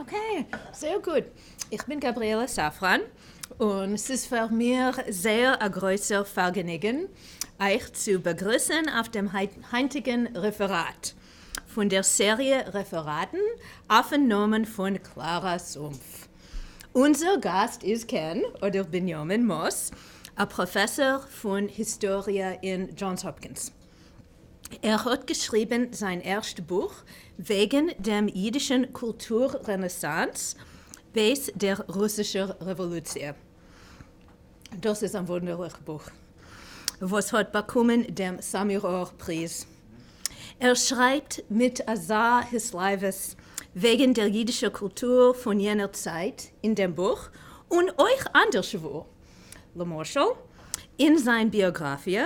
אקעי, זייער גוט. איך בין גבריאלה סאפראן, און ס'איז פאר מיר זייער א גרויסער פארגעניגן אייך צו באגריסן אויף דעם היינטיגן רעפעראט פון דער סעריע רעפעראטן אויפן נאמען פון קלארא סומף. אונזער גאסט איז קען, אדער בנימין, מאס, א פראפעסאר פון היסטאריע אין דזשאנס האפקינס. ער האט געשריבן זיין ערשט בוך וועגן דעם אידישן קולטור רענעסאנס בעת דער רוסישער רעוואלוציע. דאס איז א וואונדערליך בוך וואס האט באקומען דעם סאמיראר פריז. ער שרייבט מיט אזא התלהבות וועגן דער אידישער קולטור פון יענער צייט אין דעם בוך, און אויך אנדערשוואו, למשל אין זיין ביאגראפיע,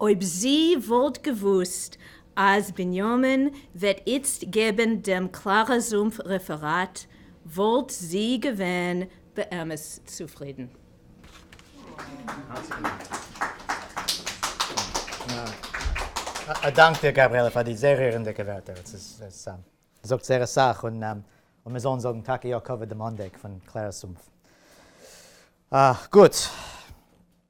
אויב זי וואלט געוואוסט אז בנימין וועט איצט געבן דעם קלארא זומפ רעפעראט וואלט זי געווען באמת צופרידן. א דאנק דיר גבריאלע פאר די זייער רירענדיגע ווערטער, עס זאגט זייער אסאך, און מיר זאלן זאגן טאקע יא כבוד דעמאנדיג פון קלארא זומפ. גוט.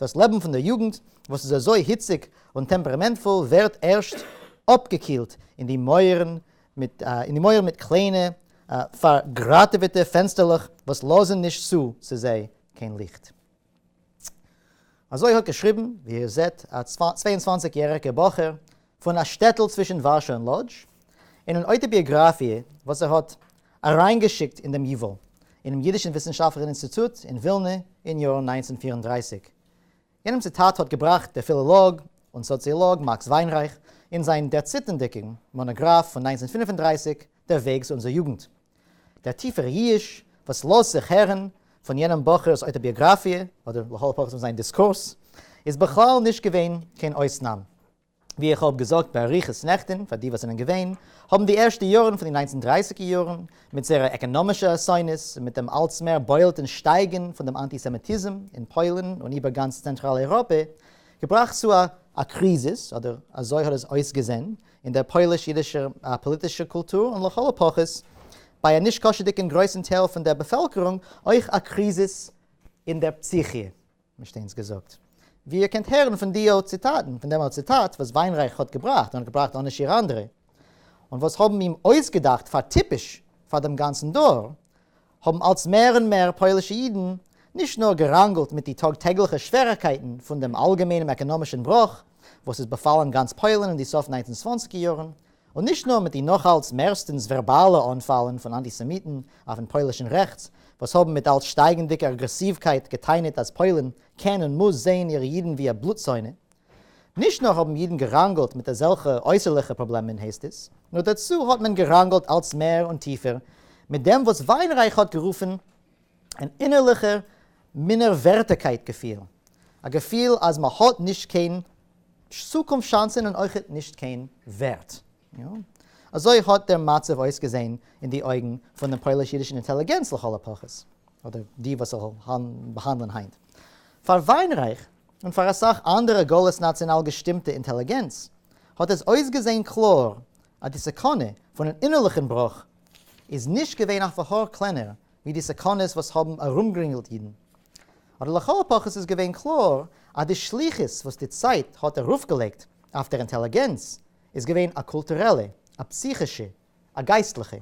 דאס לעבן פון דער יוגנט, וואס איז אזוי היציג און טעמפּערעמענטפול, ווערט ערשט אפּגעקילט אין די מויערן מיט קליינע, פארגראטעוועטע פענסטערלעך, וואס לאזן נישט צו צו זיי קיין ליכט. אזוי האט געשריבן, ווי איר זעט, א צוויי און צוואַנציק יעריגער בחור, פון א שטעטל צווישן ווארשא און לאדזש, אין אן אויטאביאגראפיע וואס ער האט אריינגעשיקט אין דעם ייוואל, אינעם יידישן וויסנשאפטלעכן אינסטיטוט אין ווילנע אין יאר נײַנצן הונדערט פֿיר און דרײַסיק. יענעם ציטאט האט געבראכט דער פילאלאג און סאציאלאג מאקס וויינרייך אין זיין דערציטנדיקן מאנאגראף פון נײַנצן הונדערט פֿינף און דרײַסיק דער וועג צו אונזער יוגנט. דער טיפער ייאוש וואס לאזט זיך הערן פון יענעם בחור'ס אויטאביאגראפיע, אדער לכל הפחות פון זיין דיסקורס, איז בכלל נישט געווען קיין אויסנאם. ווי איך האב געזאגט באריכות נעכטען פאר די וואס זענען געווען, האבן די ערשטע יארן פון די ניינצן דרייסיגער יארן, מיט זייערע עקענאמישע אסונות, און מיט דעם אלץ מער בולטען שטייגען פון דעם אנטיסעמיטיזם אין פוילן און איבער גאנץ צענטראל אייראפע, געבראכט צו א א קריזיס, אדער אזוי האט עס אויסגעזען, אין דער פויליש-אידישער פאליטישער קולטור, און לכל הפחות ביי א נישקשה'דיגען גרויסען טייל פון דער באפעלקערונג, אויך א קריזיס אין דער פסיכיע. מ'שטיינס געזאגט. ווי איר קענט הערן פון דיאָ ציטאטן, פון דעמאָלט ציטאט, וואָס וויינרייך האָט געבראכט און האָט געבראכט אָנע שיר אנדערע, און וואָס האָבן אים אויסגעדאכט פאר טיפּש פאר דעם גאנצן דור, האָבן אלץ מער און מער פּוילישע אידן נישט נאָר געראנגלט מיט די טאָג-טעגלעכע שווערעקייטן פון דעם אלגעמיינעם עקאָנאָמישן בראָך, וואָס איז באפאלן גאנץ פּוילן אין די סוף ניינצן צוואנציקער יאָרן, און נישט נאר מיט די נאכאלץ מערסטענס ווערבאלע אנפאלן פון אנטיסעמיטן אויפן פוילישן רעכטס, וואס האבן מיט אלץ שטייגענדיגע אגרעסיווקייט געטענה'ט אז פוילן קען און מוז זעהן אירע אידן ווי א בלוט-זאנע. נישט נאר האבן אידן געראנגלט מיט אזעלכע אויסערליכע פראבלעמען הייסט עס, נאר דערצו האט מען געראנגלט אלץ מער און טיפער מיט דעם וואס וויינרייך האט גערופן אן אינערליכער מינערווערטיגקייט געפיל, א געפיל אז מ'האט נישט קיין צוקונפט שאנסן און אויכעט נישט קיין ווערט. אזוי האט דער מצב אויסגעזען אין די אויגן פון דעם פויליש-אידישן אינטעליגענץ לכל הפחות, אדער די וואס איך זאל באהאנדלען היינט. פאר וויינרייך, און פאר אסאך אנדערע גלות נאציאנאל געשטימטע אינטעליגענץ, האט עס אויסגעזען קלאר אז די סכנה פון אן אינערליכן בראך איז נישט געווען אויף א האר קלענער ווי די סכנות וואס האבן ארומגרינגלט אידן אבער לכל הפחות איז געווען קלאר אז די שליחות וואס די צייט האט ארויפגעלייגט אויף דער אינטעליגענץ איז געווען א קולטורעלע, א פסיכישע, א גייסטליכע.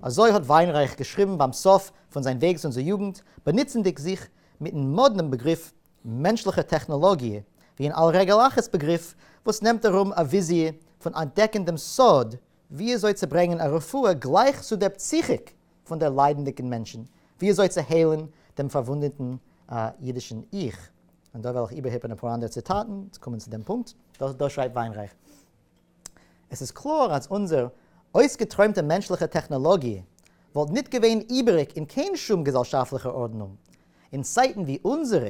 אזוי האט וויינרייך געשריבן ביים סוף פון זיין וועגס אונזער יוגנט, באנוצנדיג זיך מיטן מאדנעם בעגריף מענטשליכע טעכנאלאגיע ווי אן על רגל אחת בעגריף וואס נעמט ארום א וויזיע פון אנטדעקן דעם סוד וויאזוי צו ברענגען א רפואה גלייך צו דער פסיכיק פון דער ליידנדיקן מענטשן, ווי אזוי צו היילן דעם פארוואונדעטן אידישן איך. און דא וועל איך איבערהיפן אפאר אנדערע ציטאטן צו קומען צו דעם פונקט. דא שרייבט וויינרייך, עס איז קלאר אז אונזער אויסגעטרוימטע מענטשלעכע טעכנאלאגיע וואלט ניט געווען איבעריק אין קיין שום געזעלשאפטלעכער ארדנונג אין צייטן ווי אונזערע,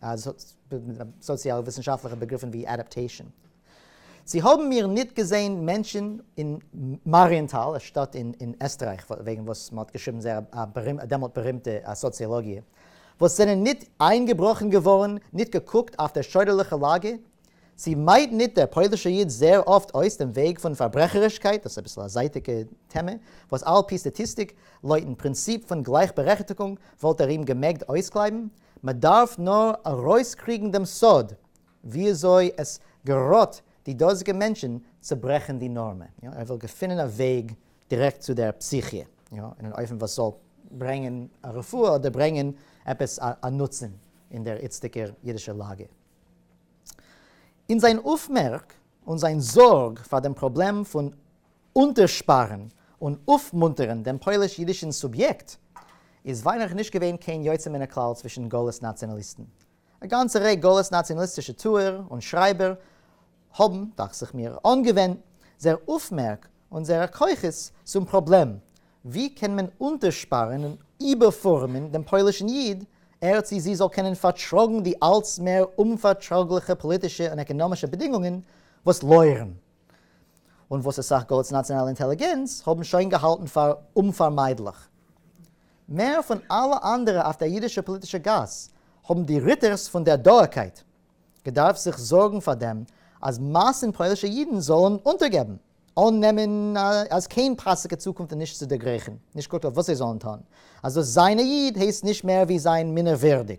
אז האט סאציאל וויסנשאפטליכע בעגריפן ווי אדאפטעישן. צו האבן מיר ניט געזען מענטשן אין מאריענטאל, א שטאט אין עסטרייך, וועגן וואס מ'האט געשריבן זייער א דעמאלט בארימטע סאציאלאגיע, וואס זענען ניט איינגעבראכן געווארן, ניט געקוקט אויף דער שוידערליכער לאגע? צו מיידט ניט דער פוילישער איד זייער אפט אויס דעם וועג פון פארברעכערישקייט, דאס איז אביסל א זייטיגע טעמע, וואס על פי סטאטיסטיק, לויטן פרינציפ פון גלייכבערעכטיגונג, וואלט ער אים געמעגט אויסקלייבן, מען דארף נאר ארויסקריגן דעם סוד וויאזוי עס געראט די דאזיגע מענטשן צו ברעכן די נארמע. ער וויל געפינען א וועג דירעקט צו דער פסיכיע, אין אן אופן וואס זאל ברענגען א רפואה אדער ברענגען עפעס א נוצן אין דער איצטיגער אידישער לאגע. אין זיין אויפמערק און זיין זארג פאר דעם פראבלעם פון אונטערשפארן און אויפמונטערן דעם פויליש-אידישן סוביעקט, איז וויינעך נישט געווען קיין יוצא מן הכלל צווישן גלות-נאציאנאליסטן. א גאנצע רעי גלות-נאציאנאליסטישע טוער און שרייבער האבן, דאכט זיך מיר, אנגעווענדט זייער אויפמערק און זייערע כוחות צום פראבלעם, ווי קען מען אונטערשפארן און איבערפארעמען דעם פוילישן איד, ער צי זי זאל קענען פארטראגן די אלץ מער אומפארטראגליכע פאליטישע און עקאנאמישע בעדינגונגען וואס לויערן. און וואס אסאך גאט'ס נאציאנאלע אינטעליגענץ האבן שוין געהאלטן פאר אומפארמיידליך. מער פון אלע אנדערע אויף דער אידישער פאליטישער גאס, האבן די ריטערס פון דער דארקייט געדארפט זיך זארגן פאר דעם אז מאסן פוילישע אידן זאלן אונטערגעבן, אננעמען אז קיין פאסיגע צוקונפט איז נישט צו דערגרייכן, נישט גוט אויף וואס זיי זאלן טאן, אז דאס זיין א איד הייסט נישט מער ווי זיין מינערווירדיג,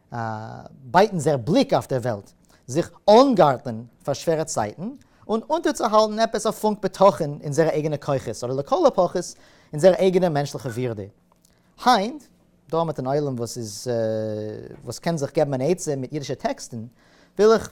א בייטענדער בליק אויף דער וועלט, זיך אנגארטלען פאר שווערע צייטן, און אונטערצוהאלטן עפעס א פונק בטחון אין אונזערע אייגענע כוחות, אדער לכל הפחות אין אונזער אייגענע מענטשליכע ווירדע. היינט, דא מיט אן עולם וואס איז וואס קען זיך געבן אן עצה מיט אידישע טעקסטן, וויל איך.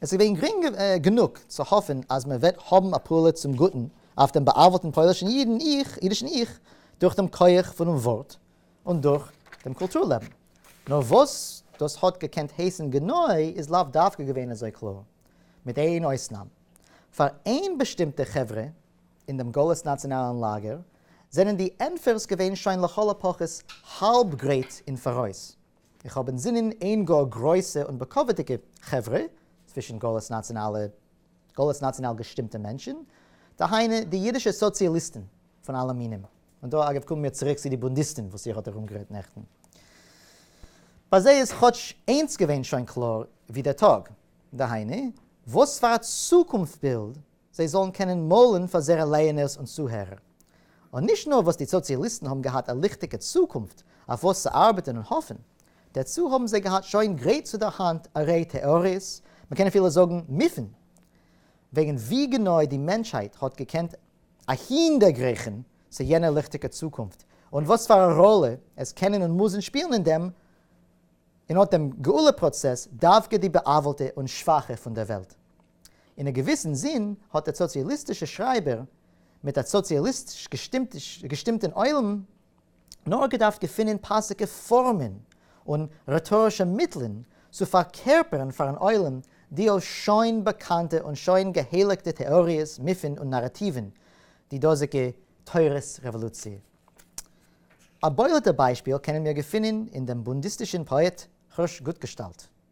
עס איז געווען גרינג גענוג צו האפן אז מען וועט האבן א פעולה צום גוטן אויף דעם בא'עוול'טן פוילישן אידן איך, אידישן איך, דורך דעם כח פונעם ווארט און דורך דעם קולטור לעבן. נאר וואס דאס האט געקענט הייסן גענוי איז לאו דווקא געווען אזוי קלאר. מיט איין אויסנאם. פאר איין באשטימטע חברה אין דעם גלות נאציאנאלן לאגער זענען די ענטפערס געווען שוין לכל הפחות האלב גרייט אין פאראויס. איך האב אינזינען איין גאר גרויסע און בכבוד'דיגע חברה, צווישן גאלעס נאציאנאלע, גאלעס נאציאנאל געשטימטע מענטשן, דהיינו די אידישע סאציאליסטן פון אלע מינים, און דא אגב קומען מיר צוריק צו די בונדיסטן וואס איר האט ארומגערעדט נעכטן. ביי זיי איז כאטש איינס געווען שוין קלאר ווי דער טאג, דהיינו, וואספארא צוקונפט בילד זיי זאלן קענען מאלן פאר זייערע לייענערס און צוהערער. און נישט נאר וואס די סאציאליסטן האבן געהאט א ליכטיגע צוקונפט אויף וואס צו ארבעטן און האפן, דערצו האבן זיי געהאט שוין גרייט צו דער האנט א ריי טעאריעס, מען קען אפילו זאגן מיפן, וועגן ווי גענוי די מענטשהייט האט געקענט אהין דערגרייכן צו יענער ליכטיגער צוקונפט, און וואס פאר א ראלע עס קענען און מוזן שפילן אין דעם, אין אט דעם גאולה פראצעס, דווקא די בעוול'טע און שוואכע פון דער וועלט. אין א געוויסן זין האט דער סאציאליסטישער שרייבער מיט א סאציאליסטיש געשטימטן עולם נאר געדארפט געפינען פאסיגע פארמען און רעטארישע מיטלען צו פארקערפערן פארן עולם די אויך שוין באקאנטע און שוין געהייליגטע טעאריעס, מיפן און נאראטיוון, די דאזיגע תורת רעוואלוציע. א בולט'ע ביישפיל קענען מיר געפינען אין דעם בונדיסטישן פאעט כרש גוטגעשטאלט.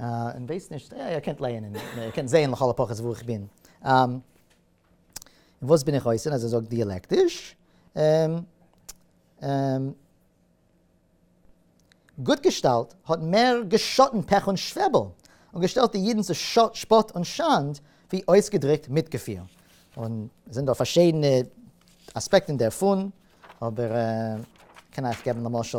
און ווייס נישט, יא איר קענט לייענען, איר קענט זעהן לכל הפחות וואו איך בין. און וואס בין איך אויסער אז ער זאגט דיאלעקטיש? גוט געשטאלט האט מער געשאטן פעך און שוועבל, און געשטעלט די אידן צו שפאט און שאנד, ווי אויסגעדריקט מיטגעפיל. און עס זענען דא פארשידענע אספעקטן דערפון, אבער איך קען אייך געבן למשל,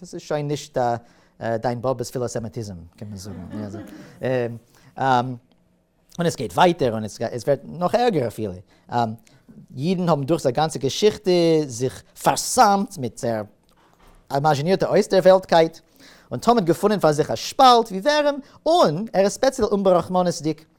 דאס איז שוין נישט דיין באבעס פילאסעמעטיזם קען מען זאגן. און עס גייט ווייטער און עס ווערט נאך ערגער אפילו. אידן האבן דורך זייער גאנצע געשיכטע זיך פאר'סמ'ט מיט זייער אימאזשינירטע אויסדערוועלטקייט, און תמיד געפונען פאר זיך א שפאלט ווי ווערעם און ער איז ספעציעל אומברחמנות'דיג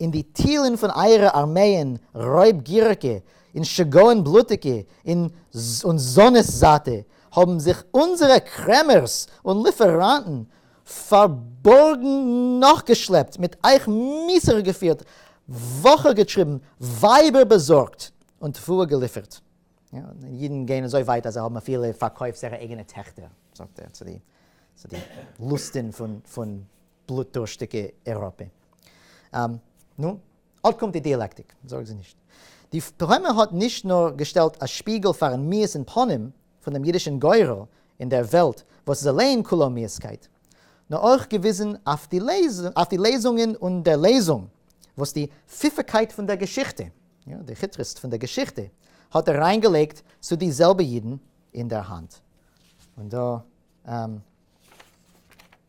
אין די טילן פֿון אײַערע אַרמײען רױבגִיריקע, אין שגעון בלוטיקע, אין זאָנעס זײַטע, האָבן זיך אונדזערע קרעמערס און ליפֿעראַנטן פֿאַרבאָרגן נאָכגעשלעפּט, מיט אײַך מיסחר געפֿירט, װאָכער געטריבן, װײַבער באַזאָרגט און תּבֿואה געליפֿערט. ייִדן גײען אַזױ װײַט, אַז זײ האָבן אַפֿילו פֿאַרקױפֿט זײערע אײגענע טעכטער, זאָגט ער, צו די לוסטן פֿון. בלוטדורשטיגע אירופע. נו, אט קומט די דיאלעקטיק, זארג זיך נישט. די פרומע האט נישט נאר געשטעלט א שפיגל פארן מיאוס אין פנים פון דעם אידישן גורל אין דער וועלט וואס איז אליין כולו מיאוסקייט, נאר אויך געוויזן אויף די לעזונגען און דער לעזונג וואס די פיפעקייט פון דער געשיכטע, די כיטרעסט פון דער געשיכטע, האט אריינגעלייגט צו די זעלבע אידן אין דער האנט. און דא.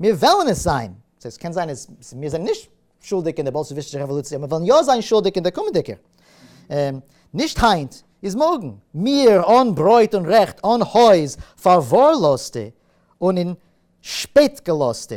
מיר וועלן עס זיין, ס'הייסט ס'קען זיין אז מיר זענען נישט שולדיג אין די באלשעוויסטישע רעוואלוציע, אבער מיר וועלן יא זיין שולדיג אין די קומענדיגע. נישט היינט, איז מארגן. מיר, אן ברויט און רעכט, אן הויז, פארווארלאזטע און אין שפעט געלאזטע.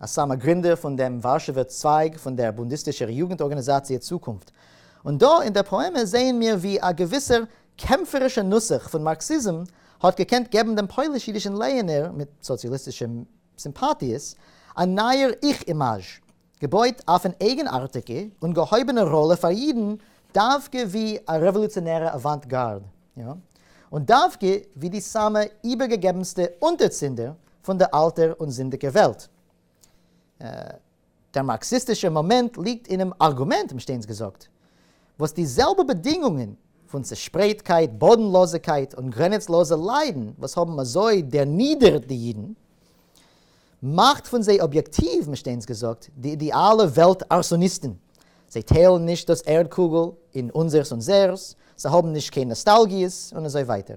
א סאמע גרינדער פון דעם ווארשעווער צווייג פון דער בונדיסטישער יוגנט ארגאניזאציע צוקונפט. און דא אין דער פאעמע זעען מיר ווי א געוויסער קעמפערישער נוסח פון מארקסיזם האט געקענט געבן דעם פויליש-אידישן לייענער, מיט סאציאליסטישע סימפאטיעס, א נייער איך-אימאזש, געבויט אויפ'ן אייגנארטיגע און געהויבענע ראלע פאר אידן דווקא ווי א רעוואלוציאנערע אוואנט-גארד, יא, און דווקא ווי די סאמע איבערגעגעבנסטע אונטערצינדער פון די אלטער און זינדיגער וועלט. דער מארקסיסטישער מאמענט ליגט אינעם ארגומענט, האבן שטיינס געזאגט, וואס די זעלבע באדינגונגען פון צעשפרייטקייט, באדנלאזיגקייט און גרעניצלאזע ליידן וואס האבן אזוי דערנידערט די אידן, מאכט פון זיי אביעקטיוו, האבן שטיינס געזאגט, די אידעאלע וועלט-ארסאניסטן. זיי טיילן נישט דאס ערד-קוגל אין אונזערס און זייערס, זיי האבן נישט קיין נאסטאלגיעס און אזוי ווייטער.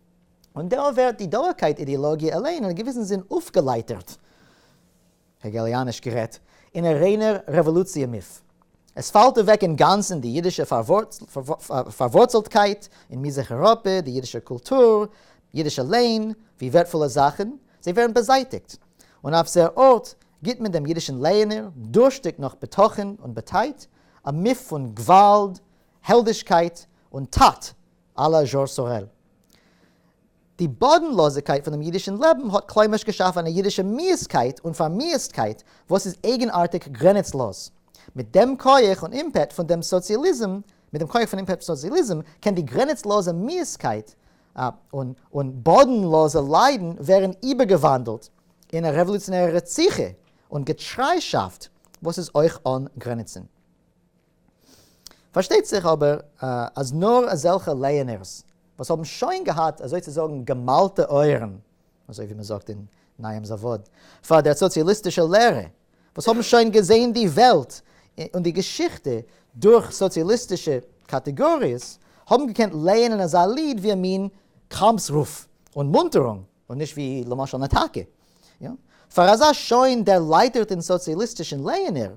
און דא ווערט די דאורקייט אידילאגיע אליין אין א געוויסן זין אויפגעלייטערט, העגעליאניש גערעדט, אין א ריינער רעוואלוציע מוף. עס פאלט אוועק אינגאנצן די אידישע פארווארצלטקייט אין מזרח אייראפע, די אידישע קולטור, אידישע לענ, ווי ווערטפולע זאכן, זיי ווערן באזייטיגט, און אויף זייער ארט גיט מען דעם אידישן לייענער, דורשטיג נאך בטחון און באטייט, א מוף פון גוואלד, העלדישקייט, און טאט, א ל זשאר סארעל. די באדנלאזיגקייט פונעם אידישן לעבן האט כלומר'שט געשאפן א אידישע מיאוסקייט און פארמיאוסטקייט וואס איז אייגנארטיג גרעניצלאז. מיט דעם כח און אימפעט פון דעם סאציאליזם, מיט דעם כח פון אימפעט פון סאציאליזם, קען די גרעניצלאזע מיאוסקייט און באדנלאזע ליידן ווערן איבערגעוואנדלט אין א רעוואלוציאנערע רציחה און געטריישאפט וואס איז אויך אן גרעניצן. פארשטייט זיך אבער אז נאר אזעלכע לייענערס וואס האבן שוין געהאט אזוי צו זאגן געמאלטע אויערן, אזוי ווי מען זאגט אין נייעם זאוואד, פאר דער סאציאליסטישער לערע, וואס האבן שוין געזען די וועלט און די געשיכטע דורך סאציאליסטישע קאטעגאריעס, האבן געקענט לייענען אזא ליד ווי א מין קאמפס רוף און מונטערונג, און נישט ווי למשל נאטאקע. פאר אזא שוין דערלייטערטן סאציאליסטישן לייענער,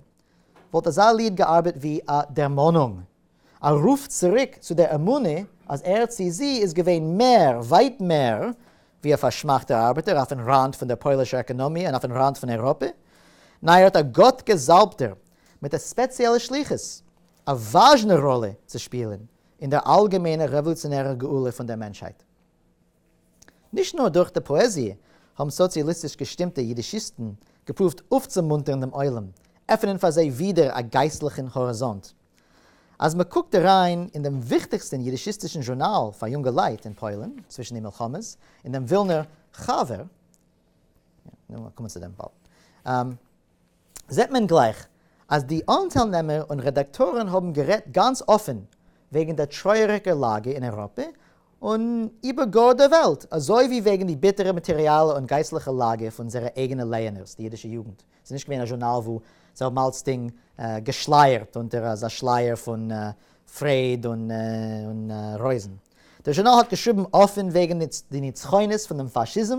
וואלט אזא ליד געארבעט ווי א דערמאנונג, א רוף צוריק צו דער אמונה אז ער צי זי איז געווען מער, ווייט מער, ווי א פארשמאכטער ארבעטער אויפן ראנד פון דער פוילישער עקאנאמיע און אויפן ראנד פון אייראפע. ניין, ער האט א גאט-געזאלבטער מיט א ספעציעלע שליחות, א וואזשנע ראלע צו שפילען אין דער אלגעמיינער רעוואלוציאנערער גאולה פון דער מענטשהייט. נישט נאר דורך די פאעזיע האבן סאציאליסטיש געשטימטע אידישיסטן געפרואווט אויפצומונטערן דעם עולם, עפענען פאר זיי ווידער א גייסטליכן האריזאנט. אז מען קוקט אריין אין דעם וויכטיגסטן אידישיסטישן זשורנאל פאר יונגעלייט אין פוילן צווישן די מלחמות, אין דעם ווילנער חבר, זעט מען גלייך אז די אנטיילנעמער און רעדאקטארן האבן גערעדט גאנץ אפען וועגן דער טרויעריגער לאגע אין אייראפע און איבער גאר דער וועלט, אזוי ווי וועגן די ביטערע מאטעריאלע און גייסטליכע לאגע פון אונזערע אייגענע לייענערס די אידישע יוגנט. ס'איז נישט געווען א זשורנאל וואו זיי האבן אלצדינג געשלייערט אונטער אזא שלייער פון פרעד און רויזן. דער זשורנאל האט געשריבן אפען וועגן די נצחונות פון דעם פאשיזם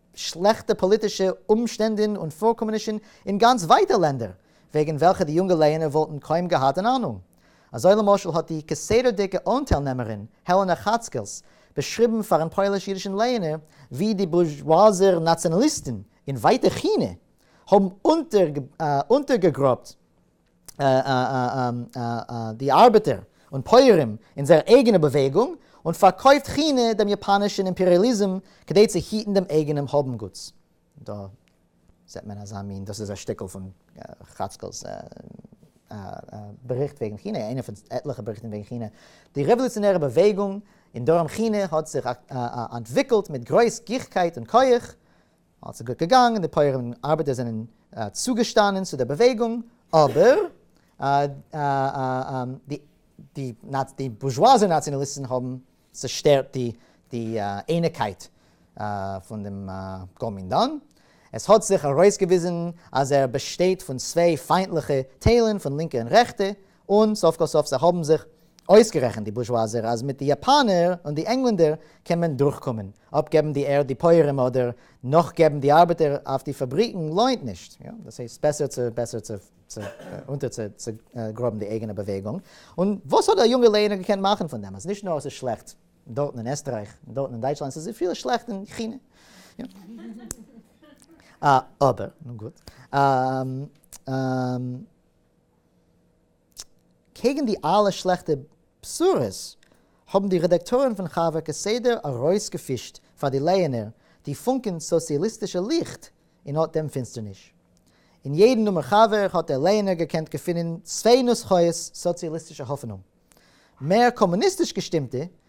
שלעכטע פאליטישע אומשטענדען און פארקומענישן אין גאנץ ווייטע לענדער, וועגן וועלכע די יונגע לייענער וואלטן קוים געהאט אן אהנונג. אזוי למשל האט די כסדר'דיגע אנטיילנעמערין העלענע כאצקעלס באשריבן פארן פויליש-אידישן לייענער ווי די בורזשואזער נאציאנאליסטן אין ווייטע כינע האבן אונטערגעגראבט די ארבעטער און פויערים אין זייער אייגענע באוועגונג, און פארקויפט כינע דעם יאפאנעשן אימפעריעליזם כדי צו היטן דעם אייגענעם האבנגוטס. דא זעט מען אזא מין, דאס איז א שטיקל פון חאצקעל'ס באריכט וועגן כינע, איינע פון עטליכע באריכטן וועגן כינע. די רעוואלוציאנערע באוועגונג אין דרום כינע האט זיך אנטוויקלט מיט גרויס גיכקייט און כח, אלס איז גוט געגאנגען, די פויערים און ארבעטער זענען צוגעשטאנען צו דער באוועגונג, אבער די בורזשואזע נאציאנאליסטן האבן צעשטערט די אייניקייט פון דעם קאמינדאן. עס האט זיך ארויסגעוויזן אז ער באשטייט פון צוויי פיינטליכע טיילן, פון לינקע און רעכטע, און סוף כל סוף זיי האבן זיך אויסגערעכנט די בורזשואזער אז מיט די יאפאנער און די ענגלענדער קען מען דורכקומען, אפגעבן די ערד די פויערים אדער נאכגעבן די ארבעטער אויף די פאבריקן לוינט נישט, דאס הייסט בעסער צו בעסער צו אונטער צו גראבן די אייגענע באוועגונג, און וואס האט א יונגע לערנער געקענט מאכן פון דעם אז נישט נאר עס איז שלעכט דארטן אין עסטרייך און דארטן אין דייטשלאנד עס איז אפילו שלעכט אין כינע, אבער נו גוט. קעגן די אלע שלעכטע בשורות האבן די רעדאקטארן פון חבר כסדר ארויסגעפישט פאר די לייענער די פונקען סאציאליסטישע ליכט אין אט דעם פינסטערניש. אין יעדן נומער חבר האט דער לייענער געקענט געפינען צוויי נוסחאות סאציאליסטישע האפענונג. מער קאמוניסטיש געשטימטע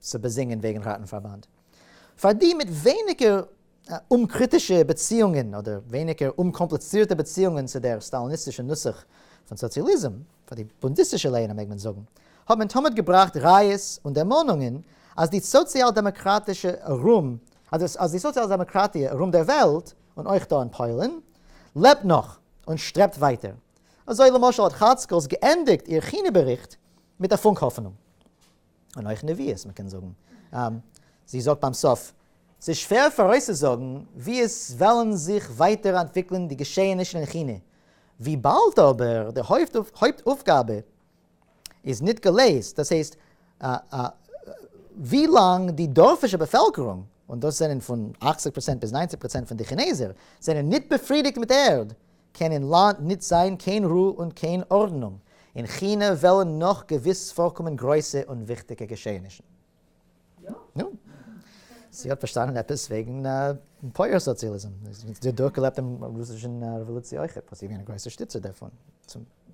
צו באזינגען וועגן ראטנפארבאנד פאר די מיט ווייניגער אומקריטישע באציאונגען אדער ווייניגער אומקאמפליצירטע באציאונגען צו דער סטאליניסטישע נוסח פון סאציאליזם, פאר די בונדיסטישע לייענער מעג מען זאגן, האט מען תמיד געבראכט ראיות און דערמאנונגען אז די סאציאל דעמאקראטישע ארום אז די סאציאל דעמאקראטיע ארום דער וועלט און אויך דא אין פוילן לעבט נאך און שטרעבט ווייטער. אזוי למשל האט חאצקעלס געענדיגט איר כינע באריכט מיט א פונק האפענונג. און אויך נביאות, מ'קען זאגן. זי זאגט ביים סוף, ס'איז שווער פאראויסצוזאגן ווי עס וועלן זיך ווייטער אנטוויקלען די געשעענישן אין כינע, וויבאלד אבער די הויפט אויפגאבע איז ניט געלעזט, דאס הייסט, ווי לאנג די דארפישע באפעלקערונג, און דאס זענען פון אַכציק פראצענט ביז נײַנציק פראצענט פון די כינעזער, זענען ניט באפרידיגט מיט ערד, קען אין לאנד ניט זיין קיין רו און קיין ארדנונג, אין כינע וועלן נאך געוויס פארקומען גרויסע און וויכטיגע געשעענישן. נו, זי האט פארשטאנען עפעס וועגן פויער סאציאליזם, זי האט דורכגעלעבט דעם רוסישן רעוואלוציע אויכעט, וואס זי איז געווען א גרויסע שטיצער דערפון,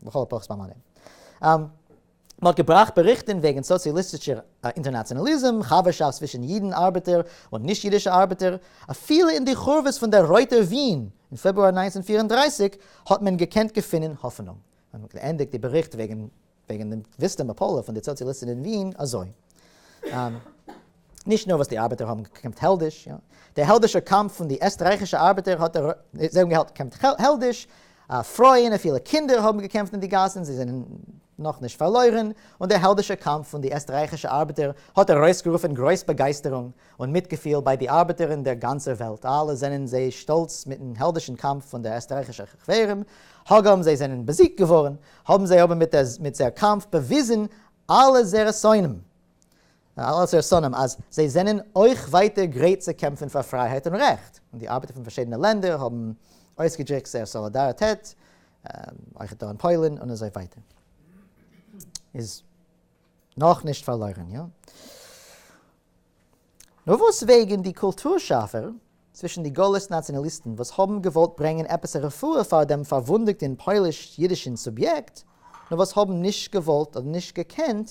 לכל הפחות ביי מיינע. מען האט געבראכט באריכטען וועגען סאציאליסטישער אינטערנאציאנאליזם, חבר'שאפט צווישען אידען ארבעטער און נישט אידישע ארבעטער, אפילו אין די חורבות פון דער רויטער וויען אין פעברואר נײַנצן פֿיר און דרײַסיק האט מען געקענט געפינען האפענונג. מען האט געענדיגט די באריכט וועגען די וויסטע מפלה פון די סאציאליסטען אין וויען אזוי. נישט נאר וואס די ארבעטער האבן געקעמפט העלדיש, יא, דער העלדישער קאמף פון די עסטרייכישע ארבעטער האט ער, זיי האבן געקעמפט העלדיש, פרויען און פילע קינדער האבן געקעמפט אין די גאסן, זיי זענען נאך נישט פארלוירן, און דער העלדישער קאמף פון די עסטרייכישע ארבעטער האט ארויסגערופן גרויס באגייסטערונג און מיטגעפיל ביי די ארבעטער אין דער גאנצער וועלט, אלע זענען זיי שטאלץ מיטן העלדישן קאמף פון דער עסטרייכישער חברים, הגם זיי זענען באזיגט געווארן, האבן זיי אבער מיט זייער קאמף באוויזן אלע זייערע שונאים און אלע סערסאנעם אז זיי זענען אויך ווייטער גרייט צו קעמפן פאר פרייהייט און רעכט, און די ארבעטער פון פארשידענע לענדער האבן אויסגעדריקט זייער סאלידאריטעט, אויך דא אין פוילן און אזוי ווייטער, איז נאך נישט פארלוירן, יא? נאר וואס וועגן די קולטור שאפער צווישן די גלות נאציאנאליסטן וואס האבן געוואלט ברענגען עפעס א רפואה פאר דעם פארוואונדעגטן פויליש-אידישן סוביעקט, נאר וואס האבן נישט געוואלט אדער נישט געקענט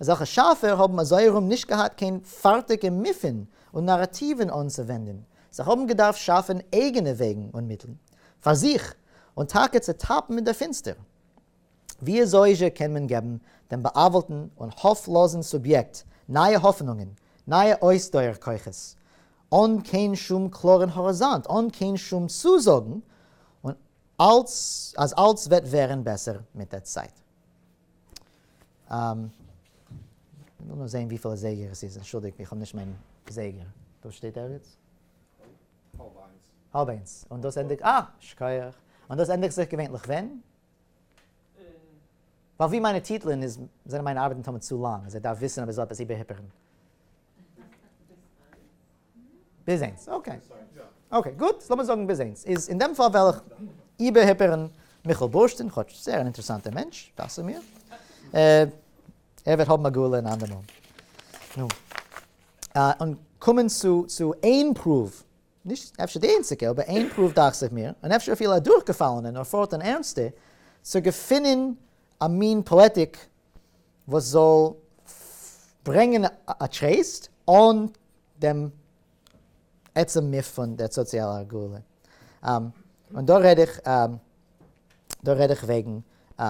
אזעלכע שאפער האבן אזוי ארום נישט געהאט קיין פארטיגע מיפן און נאראטיוון אנצואווענדן, זיי האבן געדארפט שאפן אייגענע וועגן און מיטלן פאר זיך, און טאקע צו טאפן אין דער פינסטער. וויאזויזשע קען מען געבן דעם בא'עוול'טן און האפלאזן סוביעקט נייע האפענונגען, נייע אויסדויער כוחות, אן קיין שום קלארן האריזאנט, אן קיין שום צוזאגן און אלס אז אלס וועט ווערן בעסער מיט דער צייט? לאמיר זעהן וויפיל אזייגער עס איז, אנטשולדיגט איך האב נישט מיין זייגער, דא שטייט ערגעץ? האלב איינס. האלב איינס, און דאס ענדיגט, אה! שכוח. און דאס ענדיגט זיך געווענליך ווען? ווייל ווי מיינע טיטלען איז זענען מיינע ארבעטן תמיד צו לאנג אז ער דארף וויסן אז ער זאל עפעס איבערהיפערן. ביז איינס, אקעי. אקעי גוט, ס'לאמיר זאגן ביז איינס. איז אין דעם פאל וועל איך איבערהיפערן מיכאל בורשטין, כאטש זייער אן אינטערעסאנטער מענטש, דאכצעך מיר. ער וועט האבן א גאולה אין אנדער מאל. נו. און קומען צו צו איין פרואוו, נישט אפשר די איינציגע, אבער איין פרואוו דאכצעך מיר, און אפשר אפילו א דורכגעפאלענע נאר פארט אן ערנסטע, צו געפינען א מין פאעטיק וואס זאל ברענגען א טרייסט אן דעם עצם מיפ פון דער סאציאלער הגרלה. און דא רעד איך דא רעד איך וועגן א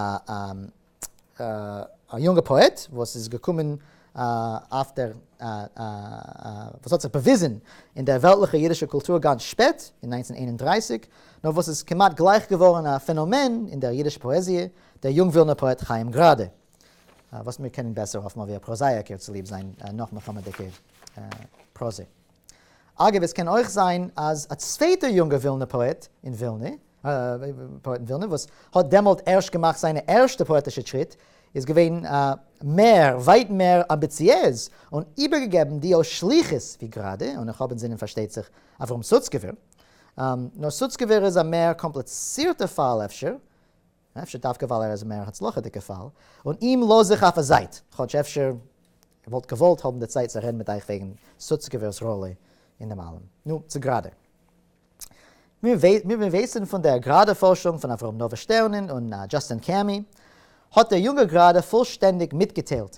יונגע פאעט וואס איז געקומען אויף דער וואס האט זיך באוויזן אין דער וועלטליכע אידישע קולטור גאנץ שפעט, אין נײַנצן איין און דרײַסיק, נאר וואס איז כמעט גלייך געווארן א פענאמען אין דער אידישע פאעזיע, דער יונג ווילנער פאעט חיים גראדע, וואס מיר קענען בעסער אפטמאל ווי א פראזאיאקער צוליב זיין נאך-מלחמה'דיגע פראזע. אגב, עס קען אויך זיין אז א צווייטער יונגער ווילנער פאעט אין ווילנע, וואס האט דעמאלט ערשט געמאכט זיינע ערשטע פאעטישע טריט, איז געווען מער, ווייט מער, אמביציעז און איבערגעגעבן דיו שליחות ווי גראדע, און איך האב אינזינען פארשטייט זיך אברהם סוצקעווער. נאר סוצקעווער איז א מער קאמפליצירטער פאל אפשר, אפשר דווקא ווייל ער איז א מער הצלחה'דיגע פאל, און אים לאז איך אויף א זייט, כאטש אפשר איך וואלט געוואלט האבן די צייט צו רעדן מיט אייך וועגן סוצקעווער'ס ראלע אין דעם אלעם. נו, צו גראדע. ווי מיר ווייסן פון דער גראדע פארשונג פון אברהם נאווער שטערנען און דזשאסטין קעמי, האט דער יונגער גראדע פולשטענדיג מיטגעטיילט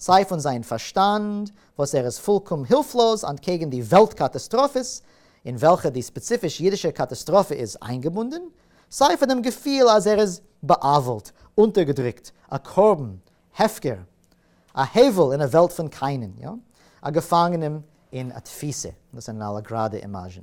סיי פון זיין פארשטאנד וואס ער איז פולקאם הילפלאז אנטקעגן די וועלט קאטאסטראפעס אין וועלכע די ספעציפיש אידישע קאטאסטראפע איז איינגעבונדן, סיי פון דעם געפיל אז ער איז בא'עוול'ט, אונטערגעדריקט, א קרבן, הפקר, א הבל אין א וועלט פון קיינען, יא, א געפאנגענעם אין א תפיסה, דאס זענען אלע גראדע אימאזשן.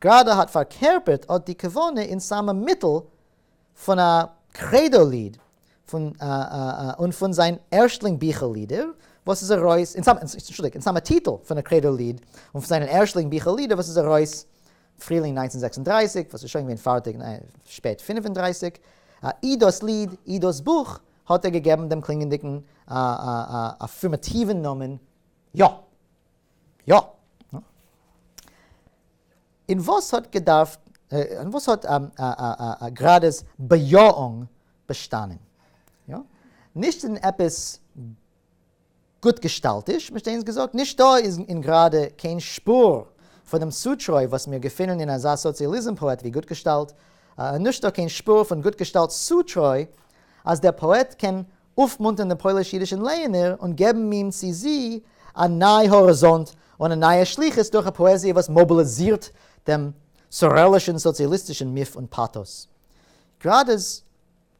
גראדע האט פארקערפערט אט די כוונה אין סאמע מיטל פון א קרעדא ליד פון און פון זיין ערשטלינג ביכל לידער וואס איז ארויס אין סאמע אנטשולדיגט אין סאמע טיטל פון א קרעדא ליד און פון זיין ערשטלינג ביכל לידער וואס איז ארויס פרילינג נײַנצן זעקס און דרײַסיק וואס איז שוין געווען פארטיג אין שפעט פֿינף און דרײַסיק אי דאס ליד אי דאס בוך האט ער געגעבן דעם קלינגענדיגן אפירמאטיוון נאמען יא. יא. און וואס האט געדארפט, און וואס האט גראדע'ס באיאונג באשטאנען? יא. נישט אין עפעס גוט געשטאלטיש, מ'שט אינז געזאגט, נישטא איז אין גראדע קיין שפור פון דעם צוטרוי וואס מיר געפינען אין אזא סאציאליזם פאעט ווי גוט געשטאלט, און נישטא קיין שפור פון גוט געשטאלט'ס צוטרוי אז דער פאעט קען אויפמונטערן דעם פויליש-אידישן לייענער און געבן אים צי זי א ניי האריזאנט און א נייע שליחות דורך א פאעזיע וואס מאביליזירט דעם סוראלישן סאציאליסטישן מיף און פאטאס. גראדע'ס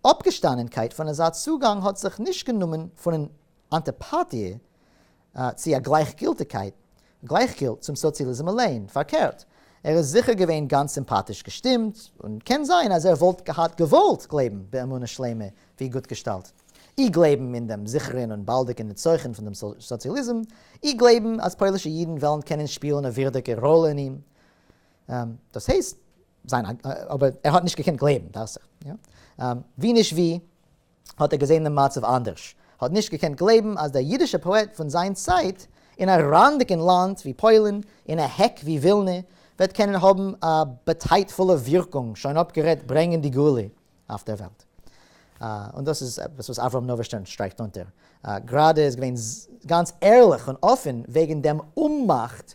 אפגעשטאנענקייט פון אזא צוגאנג האט זיך נישט גענומען פונען אנטיפאטיע צו א גלייכגילטיגקייט, גלייכגילט צום סאציאליזם אליין, פארקערט, ער איז זיכער געווען גאנץ סימפאטיש געשטימט, און קען זיין אז ער וואלט געהאט געוואלט גלייבן באמונה שלימה ווי גוט געשטאלט, אי גלייבן אין דעם זיכערן און באלדיגן נצחון פון דעם סאציאליזם, אי גלייבן אז פוילישע אידן וועלן קענען שפילן א ווירדיגע ראלע אין אים, דאס הייסט, זיין א, אבער ער האט נישט געקענט גלייבן, דאכט זיך, יא? ווי נישט ווי. האט ער געזען דעם מצב אנדערש, האט נישט געקענט גלייבן אז דער אידישער פאעט פון זיין צייט, אין א רענדיגן לאנד ווי פוילן, אין א העק ווי ווילנע, וועט קענען האבן א באדייטפולע ווירקונג, שוין אפגערעדט ברענגען די גאולה אויף דער וועלט. און דאס איז עפעס וואס אברהם נאווערשטערן שטרייכט אונטער, גראדע איז געווען גאנץ ערליך און אפן וועגן דעם אוממאכט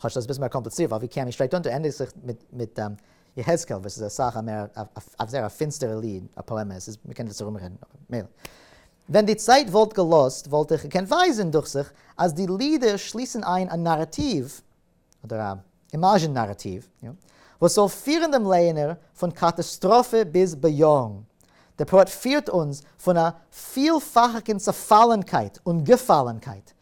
כאטש דאס איז אביסל מער קאמפליצירט ווייל ווי כעמי שטרייכט אונטער ענדיגט זיך מיט יחזקאל וואס איז אסאך א מער אויף זייער א פינסטערע ליד א פאעמע עס איז מ'קען דאס ארום רעדן אבער מילא ווען די צייט וואלט געלאזט וואלט איך געקענט ווייזען דוכט זיך אז די לידער שליסן איין א נאראטיוו אדער א אימאזשען נאראטיוו וואס זאל פירן דעם לייענער פון קאטאסטראפע ביז באיאונג דער פאעט פירט אונז פון א פילפאכיגן צעפאלענקייט און געפאלענקייט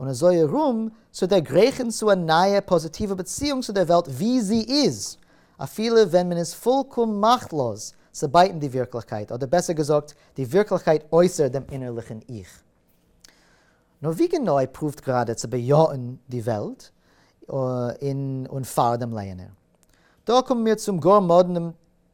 און אזוי ארום צו דערגרייכן צו א נייע פאזיטיווע באציאונג צו דער וועלט ווי זי איז, אפילו ווען מען איז פולקאם מאכטלאז צו בייטן די ווירקליכקייט, אדער בעסער געזאגט, די ווירקליכקייט אויסער דעם אינערליכן 'איך'. נו, ווי גענוי פרואווט גראדע צו באיאן די וועלט אין און פאר דעם לייענער? דא קומען מיר צום גאר מאדנעם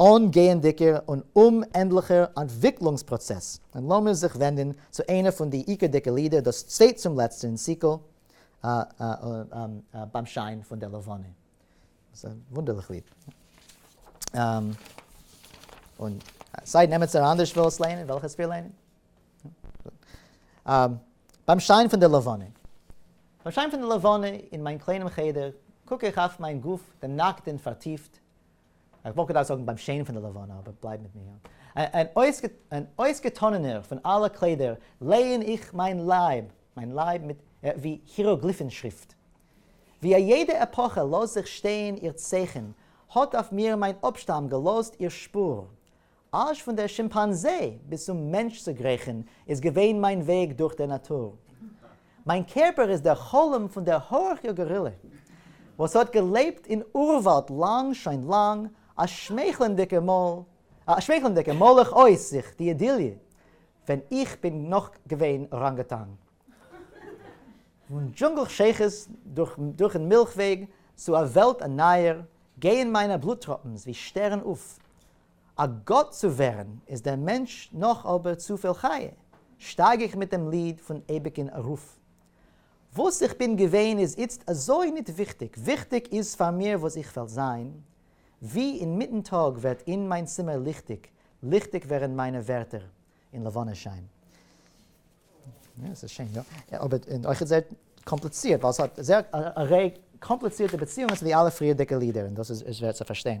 אן גייענדיגער און אומענדליכער אנטוויקלונגס פראצעס, און לאמיר זיך ווענדן צו איינע פון די עיקרדיגע לידער, דאס צווייט צום לעצט אין סיקל ביים שיין פון דער לבנה. ס'איז א וואונדערליך ליד. און סיי נעמטס אן אנדערש וויל עס ליינען, וועל איך עס פיר ליינען. ביים שיין פון דער לבנה. ביים שיין פון דער לבנה אין מיין קליינעם חדר, קוק איך אויף מיין גוף דערנאקט און פארטיפט, איך וואלט געדארפט זאגן ביים שיין פון די לבנה, אבער בלייב מיט מיר. און אויסגעטאנענער פון אלע קליידער לייען איך מיין לייב, מיין לייב מיט ווי היעראגליפן שריפט. ווי א יעדע עפאכע לאזט זיך שטיין איר צייכן, האט אויף מיר מיין אפשטאם געלאזט איר שפור. אַזש פֿון דער שימפּאַנזע ביז צום מענטש צו גרעכן איז געווען מײַן וועג דורך דער נאַטור. מײַן קערפּער איז דער חלום פֿון דער האָרכער גאָרילע, וואָס האָט געלעבט אין אורװאַלד לאַנג, שוין לאַנג, אַ שמייכלענדיקער מויל, אַ שמייכלענדיקער מוילעך אויס זיך די אידיליע, ווען איך בין נאָך געווען אָראַנגוטאַנג. פֿון דזשונגל-שייכות דורך, דורכן מילכוועג צו אַ וועלט אַ נײַער, גייען מײַנע בלוט-טראָפּנס ווי שטערן אויף, א גאט צו ווערן איז דער מענטש נאך אבער צופיל חיה, שטייג איך מיט דעם ליד פון אייביג אין ארויף. וואס איך בין געווען איז איצט אזוי ניט וויכטיג, וויכטיג איז פאר מיר וואס איך וועל זיין, ווי אין מיטן טאג ווערט אין מיין צימער ליכטיג, ליכטיג ווערן מיינע ווערטער אין לבנה שיין. יא, ס'איז שיין, יא. אבער און אויכעט זייער קאמפליצירט, ווייל ס'האט זייער א ריי קאמפליצירטע באציאונגען צו די אלע פריערדיגע לידער, און דאס איז שווער צו פארשטיין.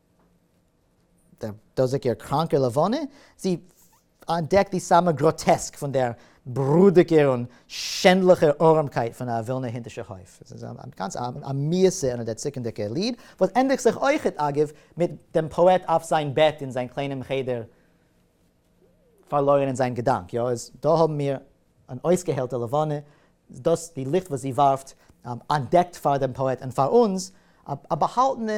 דער דאָזיקער קראַנקער לבֿנה, זי אַנטדעקט די סאַמע גראָטעסק פֿון דער ברודיקער און שענדלעכער אָרעמקייט פֿון אַ װילנער הינטישער הױף. עס איז אַ גאַנץ אַ מיִסע און אַ דערציקנדיקער ליד, װאָס ענדיקט זיך אױכעט, אַגבֿ, מיט דעם פּאָעט אַף זײַן בעט אין זײַן קלײנעם חדר, פֿאַרלױרן אין זײַן געדאַנק. יאָ, איז דאָ האָבן מיר אַן אױסגעהעלטער לבֿנה, דאָס די ליכט, װאָס זי װאַרפֿט, אַנטדעקט פֿאַר דעם פּאָעט און פֿאַר אונדז, אַ באַהאַלטענע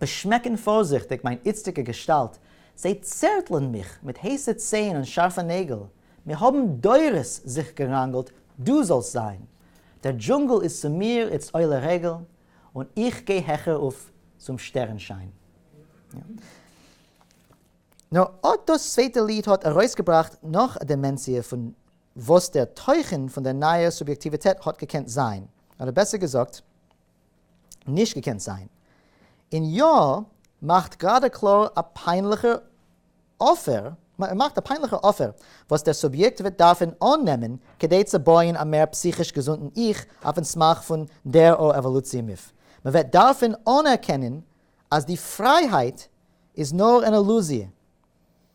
באשמעקן פארזיכטיג מיין איצטיגע געשטאלט, זיי צערטלען מיך מיט הייסע ציין און שארפע נעגל, מיר האבן דורות זיך געראנגלט דו זאלסט זיין, דער דזשונגל איז צו מיר איצט עולה רגל, און איך גיי העכער אויף צום שטערן שיין. נאר אט דאס צווייטע ליד האט ארויסגעבראכט נאך א דימענסיע פון וואס דער תוכן פון דער נייער סוביעקטיוויטעט האט געקענט זיין, אדער בעסער געזאגט, נישט געקענט זיין. און יא, מאכט גראדע קלאר א פיינליכער אפער, ער מאכט א פיינליכער אפער וואס דער סוביעקט וועט דארפן אננעמען כדי צו בויען א מער פסיכיש געזונטן 'איך' אויפן סמך פון דער או עוואלוציע מיף. מ'וועט דארפן אנערקענען אז די פרייהייט איז נאר אן אילוזיע.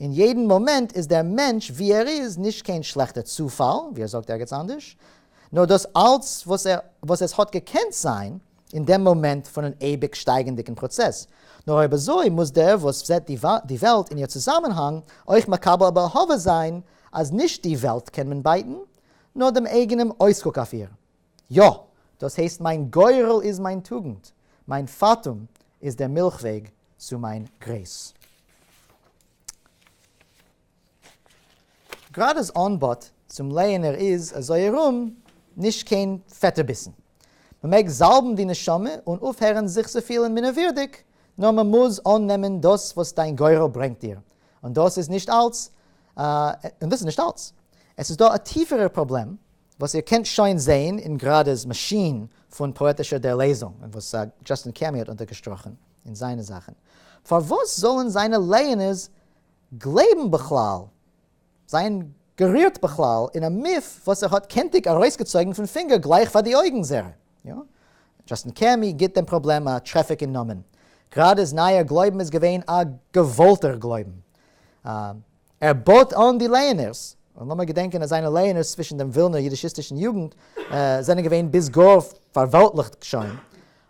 אין יעדן מאמענט איז דער מענטש ווי ער איז נישט קיין שלעכטער צופאל, ווי ער זאגט ערגעץ אנדערש, נאר דאס אלץ וואס ער וואס עס האט געקענט זיין אין דעם מאמענט פון אן אייביג שטייגענדיגן פראצעס, נאר אויב אזוי מוז דער וואס זעט די וועלט אין איר צוזאמענהאנג אויך מקבל א באהבה זיין אז נישט די וועלט קען מען בייטן, נאר דעם אייגענעם אויסקוק אויף איר. יא! דאס הייסט מיין גורל איז מיין טוגנט, מיין פאטום איז דער מילך וועג צו מיין גרעיס. גראדע'ס אנבאט צום לייענער איז אזוי ארום נישט קיין פעטע ביסן. מ'מעג זאלבן די נשמה און אויפהערן זיך צו פילן מינערווירדיג, נאר מ'מוז אננעמען דאס וואס דיין גורל ברענגט דיר, און דאס איז נישט אלץ. עס איז דא א טיפערער פראבלעם וואס איר קענט שוין זעהן אין גראדע'ס מאשין פון פאעטישער דערלעזונג, און וואס דזשאסטין קעמי האט אונטערגעשטראכן אין זיינע זאכן. פארוואס זאלן זיינע לייענערס גלייבן בכלל, זיין גערירט בכלל, אין א מיף וואס ער האט קענטיג ארויסגעצויגן פון פינגער גלייך פאר די אויגן זערא? דזשאסטין קעמי גיבט דעם פראבלעם א טרעפיק אין נאמען. גראדע'ס נייער גלויבן איז געווען א געוואלטער גלויבן. ער בויט אן די לייענערס, און לאמיר געדענקען אז זיינע לייענערס צווישן דעם ווילנער אידישיסטישן יוגנט זענען געווען ביז גאר פארוועלטליכט שוין,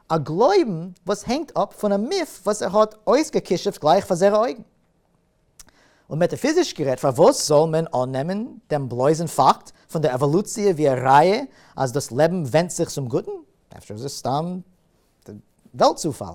א גלויבן וואס הענגט אפ פון א מיף וואס ער האט אויסגעכישופט גלייך פאר זייערע אויגן. און מעטאפיזיש גערעדט, פארוואס זאל מען אננעמען דעם בלויזן פאקט פון דער עוואלוציע ווי א ראיה אז דאס לעבן ווענדט זיך צום גוטן? אפשר איז עס סתם וועלט-צופאל?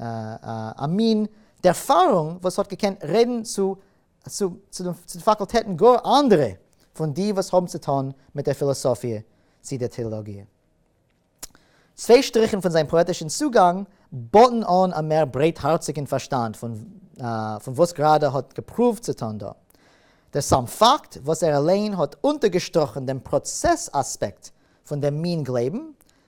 א מין ערפארונג וואס האט געקענט רעדן צו די פאקולטעטן גאר אנדערע פון די וואס האבן צו טון מיט דער פילאסאפיע צי דער טעאלאגיע. צוויי שטריכן פון זיין פאעטישן צוגאנג באטן אן א מער ברייטהארציגן פארשטאנד פון וואס גראדע האט געפרואווט צו טון דא. דער סאם פאקט וואס ער אליין האט אונטערגעשטראכן דעם פראצעס אספעקט פון דעם מין גלייבן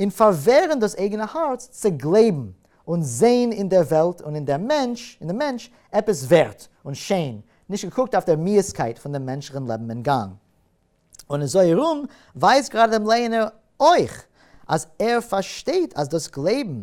און פארווערן דאס אייגענע הארץ צו גלייבן און זען אין דער וועלט און אין דעם מענטש אין דעם מענטש עפעס ווערט און שיין, נישט געקוקט אויף דער מיאוסקייט פון דעם מענטשליכן לעבן און גאנג. און אזוי ארום ווייזט גראדע דעם לייענער אויך אז ער פארשטייט אז דאס גלייבן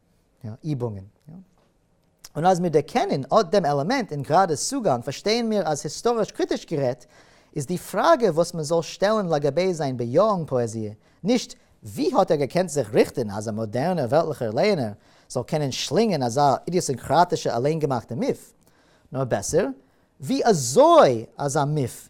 יא, איבונגען. און אז מיר דערקענען אט דעם עלעמענט אין גראדעס צוגאנג, פארשטייען מיר אז היסטאריש-קריטיש גערעדט, איז די פראגע וואס מען זאל שטעלן לגבי זיין באיאונג פאעזיע, נישט ווי האט ער געקענט זיך ריכטן אז א מאדערנער וועלטליכער לייענער זאל קענען שלינגען אזא אידיאסינקראטישע אליינגעמאכטע מיף, נאר בעסער, ווי אזוי אזא מיף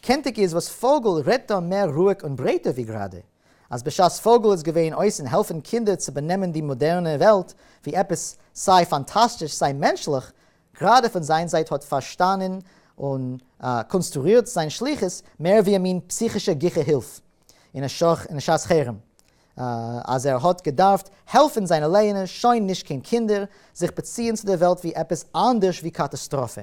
קענטיג איז וואס פאגל רעדט דא מער רואיג און ברייטער ווי גראדע אז בשעת פאגל איז געווען אויס און העלפען קינדער צו באנעמען די מאדערנע וועלט ווי עפעס סיי פאנטאסטיש סיי מענטשליך, גראדע פון זיין זייט האט פארשטאנען און קאנסטרוירט זיין שליחות מער ווי א מין פסיכישע גיכע הילף אין א שעת חירום אז ער האט געדארפט העלפען זיינע לעיענער שוין נישט קיין קינדער זיך באציען צו די וועלט ווי עפעס אנדערש ווי קאטאסטראפע.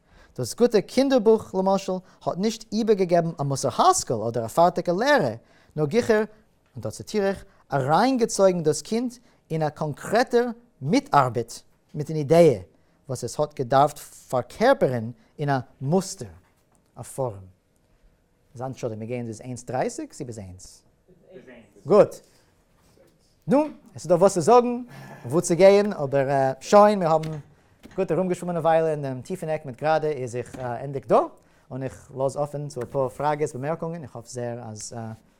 דאס גוטע קינדער בוך למשל האט נישט איבערגעגעבן א מוסר השכל אדער א פארטיגע לערע, נאר גיכער, און דא ציטיר איך, אריינגעצויגן דאס קינד אין א קאנקרעטער מיטארבעט מיטן אידעע וואס עס האט געדארפט פארקערפערן אין א מוסטער, א פארעם. זיין תשובה, מיר גייען ביז איינס דרייסיג צו ביז איינס? ביז איינס. גוט. נו, עס איז דא וואס צו זאגן, וואו צו גייען, אבער שוין, מיר האבן גוט ארומגעשווומען א וויילע אין דעם טיפן עק מיט גראדע איז זיך ענדיגט דא, און איך לאז אפן צו אפאר פראגעס, באמערקונגען, איך האף זעהר אז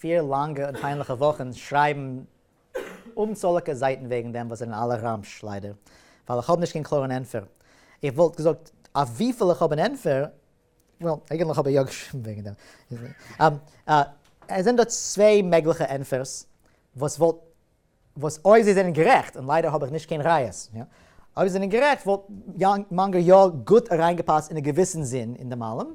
פיר לאנגע און פיינליכע וואכן שרייבן אומצאליגע זייטן וועגן דעם וואס זענען אלע רמש, ליידער, ווייל איך האב נישט קיין קלארן ענטפער. איך וואלט געזאגט אויף וויפיל איך האב אן ענטפער, well, אייגענטליך האב איך יא געשריבן וועגן דעם. עס זענען דא צוויי מעגליכע ענטפערס וואס וואלט, וואס אויב זיי זענען גערעכט, און ליידער האב איך נישט קיין ראיות, אויב זיי זענען גערעכט וואלט מאנגא יא גוט אריינגעפאסט אין א געוויסן זין אין דעם אלעם,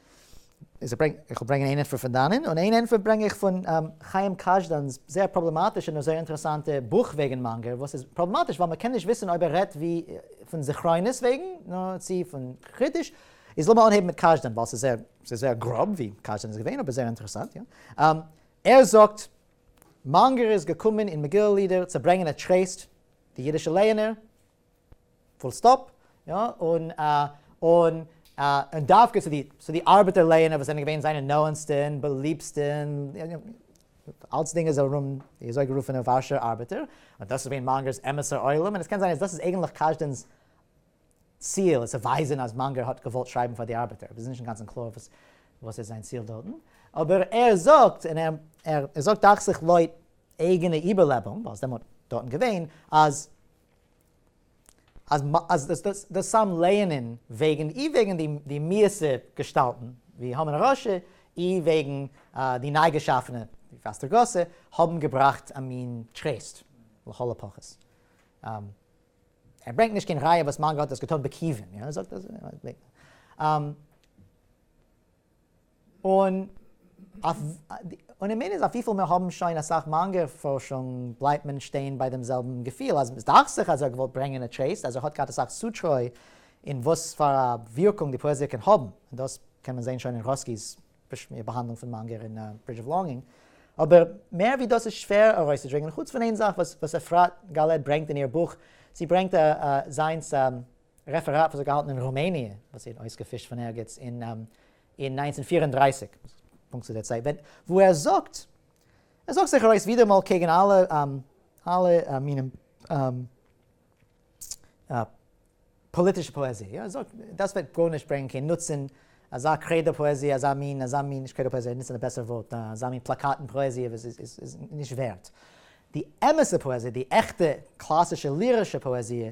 איך וועל ברענגען איין ענטפער פון דאנען, און איין ענטפער ברענג איך פון חיים קאזשדאן'ס זייער פראבלעמאטישע נאר זייער אינטערעסאנטע בוך וועגן מאנגער, וואס איז פראבלעמאטיש ווייל מ'קען נישט וויסן אויב ער רעדט ווי פון זכרונות וועגן, נאר צו פון קריטיש. איז לאמיר אנהייבן מיט קאזשדאן ווייל ס'איז זייער, ס'איז זייער גראב ווי קאזשדאן איז געווען, אבער זייער אינטערעסאנט, יא. ער זאגט, מאנגער איז געקומען אין מגילה לידער צו ברענגען א טרייסט, די אידישע לייענער, פול סטאפ, יא, און און און דווקא צו די צו די ארבעטער לענער וואס זענען געווען זיינע נאענסטע און באליבסטע און אלצדינג איז ארום די אזויגערופענע ווארשער ארבעטער, און דאס איז געווען מאנגער'ס אמת'ער עולם, און עס קען זיין אז דאס איז אייגענטליך קאזשדען'ס ציל, איז צו ווייזען אז מאנגער האט געוואלט שרייבן פאר די ארבעטער, עס איז נישט אינגאנצן קלאר וואס וואס איז זיין ציל דארטן, אבער ער זאגט, און ער ער זאגט דאכט זיך לויט אייגענע איבערלעבונג, ווייל עס איז דעמאלט דארטן געווען, אז אז די סאמע לערנען וועגן אי וועגן די מיעסע געשטאלטן ווי המן הרשע אי וועגן די ניי געשאפענע ווי פאסטער גאסע האבן געבראכט א מין טרעסט לכל הפחות. ער ברענגט נישט קיין ראיה וואס מאנגא האט דאס געטון בכיוון. און און עמען איז אויף וויפיל מיר האבן שוין אסאך מאנגער פארשונג בלייבט מען שטיין ביי דעם זעלבן געפיל אז סדאכט זיך אז ער האט געוואלט ברענגען א טרעיסט אז ער האט געהאט אסאך צוטרוי אין וואס פאר א ווירקונג די פאעזיע קען האבן און דאס קען מען זעהן שוין אין רוסקי'ס באהאנדלונג פון מאנגער אין ברידזש אוו לאנגינג אבער מער ווי דאס איז שווער ארויסצודרינגען חוץ פון איין זאך וואס עפרת גאלעד ברענגט אין איר בוך זי ברענגט זיינס רעפעראט וואס איז געהאלטן אין רומעניע, וואס זי האט אויסגעפישט פון ערגעץ אין אין נײַנצן פֿיר און דרײַסיק, פונקט צו דער צייט ווען וואו ער זאגט, ער זאגט זיך ארויס ווידעראמאל קעגן אלע אלע מינים פאליטישע פאעזיע, יא, ער זאגט דאס וועט גארנישט ברענגען קיין נוצן, אזא קרעדא פאעזיע, אזא מין, אזא מין, נישט קרעדא פאעזיע, ער נוצט א בעסערע ווארט, אזא מין פלאקאטן פאעזיע וואס איז איז איז נישט ווערט. די אמת'ע פאעזיע, די עכטע קלאסישע לירישע פאעזיע,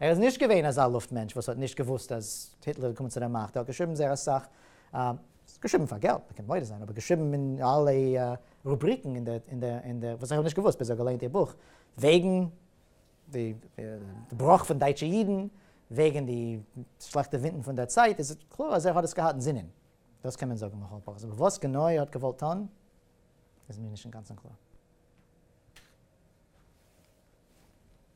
ער איז נישט געווען אזא לופט מענטש וואס האט נישט געוואוסט אז היטלער איז געקומען צו דער מאכט, ער האט געשריבן זייער אסאך, געשריבן פאר געלט, מען קען מודה זיין, אבער געשריבן אין אלע רובריקן אין דער, אין דער, אין דער, וואס איך האב נישט געוואוסט ביז איך האב געליינט איר בוך, וועגן די בראך פון דייטשע אידן, וועגן די שלעכטע ווינטן פון דער צייט, איז קלאר אז ער האט עס געהאט אין זינען, דאס קען מען זאגן לכל הפחות, אבער וואס גענוי ער האט געוואלט טון, איז מיר נישט אינגאנצן קלאר.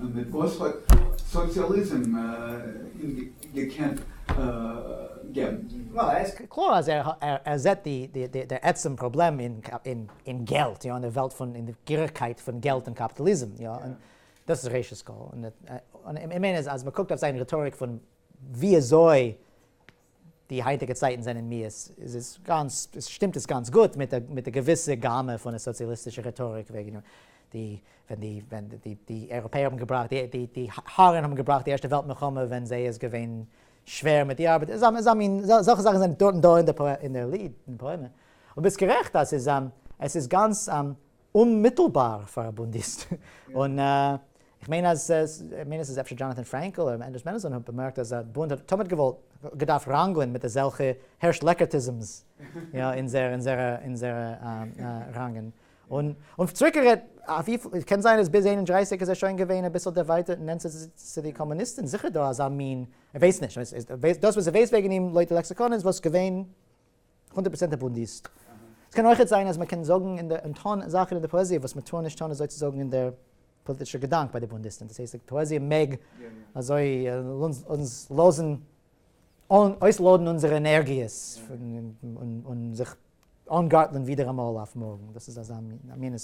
און מיט וואס האט סאציאליזם אים געקענט געבן? קלאר אז ער זעט די דער עצם פראבלעם אין געלט, יא, אין די וועלט פון, אין די גירעכקייט פון געלט און קאפיטאליזם, יא, און דאס איז ראשית כל, און איך מיין אז מען קוקט אויף זיין רעטאריק פון וויאזוי די היינטיגע צייטן זענען מיאוס, איז עס גאנץ, שטימט עס גאנץ גוט מיט א מיט א געוויסע גאמע פון די סאציאליסטישע רעטאריק וועגן די ווען די ווען די די אייראפעער האבן געבראכט די די די הארן האבן געבראכט די ערשטע וועלט מלחמה ווען זיי איז געווען שווער מיט די ארבעט, איז א מין אזעלכע זאכן זענען דארט און דא אין די פאעמע. און ביסט גערעכט אז עס איז גאנץ. אוממיטלבאר פאר א בונדיסט, און איך מיין אז איך מיין עס איז אפשר דזשאנאטאן פרענקל אדער מענדעלס מענעלסאן האט באמערקט אז א בונד האט תמיד געוואלט געדארפט ראנגלען מיט אזעלכע הערש לעקערטיזמס אין זייערע ראנגען, און צוריק גערעדט וויפיל קען זיין אז ביז איין און דרײַסיק איז ער שוין געווען אביסל דערווייטערט נענטער צו די קאמוניסטען זיכער דא אזא מין ער ווייסט נישט דאס וואס ער ווייסט וועגען אים לויט די לעקסיקאן איז וואס געווען הונדערט פראצענט א בודהיסט. ס'קען אויכעט זיין אז מ'קען זאגן און און טון זאכן אין די פאעזיע וואס מ'טאר נישט טון אזוי צו זאגן אין דער פאליטישער געדאנק ביי די בודהיסטן. דאס הייסט די פאעזיע מעג אזוי אונז לאזן אויסלאדן אונזערע ענערגיעס און זיך אנגארטלען ווידעראמאל אויף מארגן. דאס איז אזא מין א מין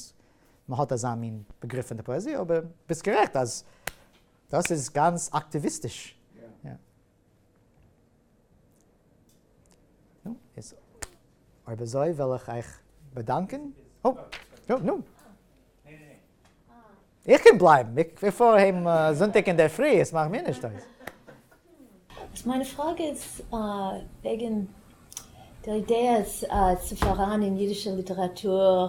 מ'האט אזא מין באגריף פון די פאעזיע אבער ביסט גערעכט אז דאס איז גאנץ אקטיוויסטיש. נו, איז אויב אזוי וויל איך אייך באדאנקען. הו, נו, נו. איך קען בלייבן, איך פאר אהיים זונטאג אינדערפרי, עס מאכט מיר נישט אויס. מיינע פראגע איז וועגן די אידעעס צו פאראן אין אידישע ליטעראטור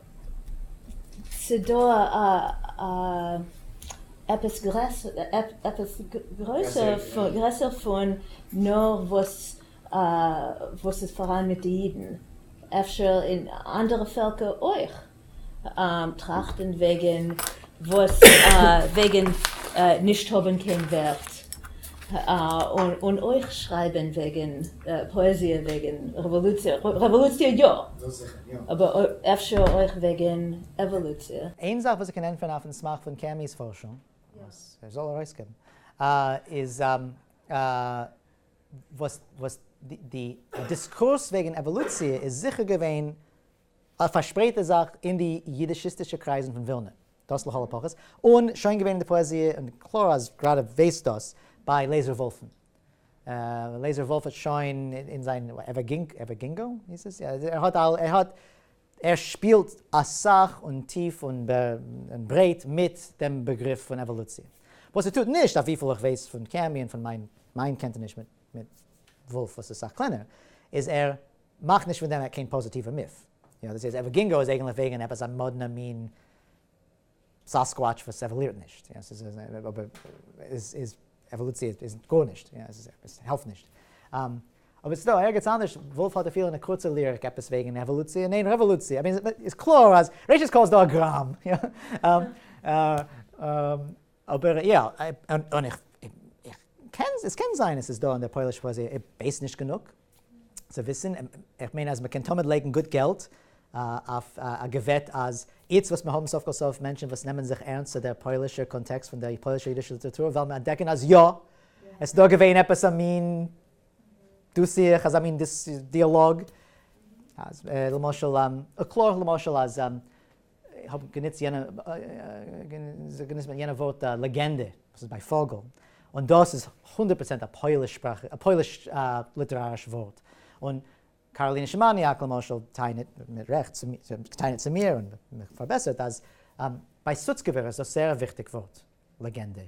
ס'דא א א עפעס גרעסער פון נאר וואס וואס איז פאראן מיט די אידן, אפשר אין אנדערע פעלקער אויך טראכטן וועגן וואס וועגן נישט האבן קיין ווערט, און אויך שרייבן וועגן פאעזיע וועגן רעוואלוציע, רעוואלוציע יא, אבער אפשר אויך וועגן עוואלוציע. איין זאך וואס איך קען ענטפערן אויפן סמך פון קעמי'ס פארשונג, וואס ער זאל ארויסגעבן, איז וואס די דיסקורס וועגן עוואלוציע איז זיכער געווען א פארשפרייטע זאך אין די יידישיסטישע קרייזן פון ווילנע, דאס לכל הפחות, און שוין געווען אין די פאעזיע, און קלאר אז גראדע וועסט דאס, ביי לעיזער וואלף'ן. לעיזער וואלף האט שוין אין זיין עווערגינגאו היס עס? ער האט אל, ער האט, ער שפילט אסאך און טיף און ברייט מיט דעם באגריף פון עוואלוציע. וואס ער טוט נישט, אויף וויפיל איך ווייס פון קעמי און פון מיין קענטעניש מיט וואלף וואס איז סאך קלענער, איז ער מאך נישט פון דעם קיין פאזיטיווע מיף. יא דאס איז אווערגינגאו איז אייגענליך וועגען עפעס א מאדנע מין סאסקוואטש וואס עוואלירט נישט יא ס'איז אבער איז איז עוואלוציע איז גארנישט יא עס איז עס העלפט נישט אבער ס'איז דא ערגעץ אנדערש וואלף האט אפילו אין א קורצע ליריק עפעס וועגען עוואלוציע ניין רעוואלוציע איז איז קלאר אז ראשית כל איז דא א גראם יא אבער יא און איך איך קען עס קען זיין עס איז דא אין די פוילישע פאעזיע איך ווייס נישט גענוג. צו וויסן, איך מיין אז מ'קען תמיד לייגן גוט געלט אויף א געוועט אז איצט וואס מיר האבן סוף כל סוף מענטשן וואס נעמען זיך ערנסט צו דער פוילישער קאנטעקסט פון דער פוילישער אידישער ליטעראטור וועלן מיר אנטדעקן אז יא, עס איז דא געווען עפעס א מין דו-שיח, אזא מין דיאלאג, למשל, קלאר למשל אז איך האב גענוצט יענע ווארט לעגענדע, וואס איז ביי פאגל, און דאס איז הונדערט פראצענט א פויליש שפראך, א פויליש ליטעראריש ווארט, און קאראלינע שמאניאק למשל טענה'ט מיט רעכט, טענה'ט צו מיר און מיך פארבעסערט, אז ביי סוצקעווער איז דאס זייער א וויכטיג ווארט לעגענדע,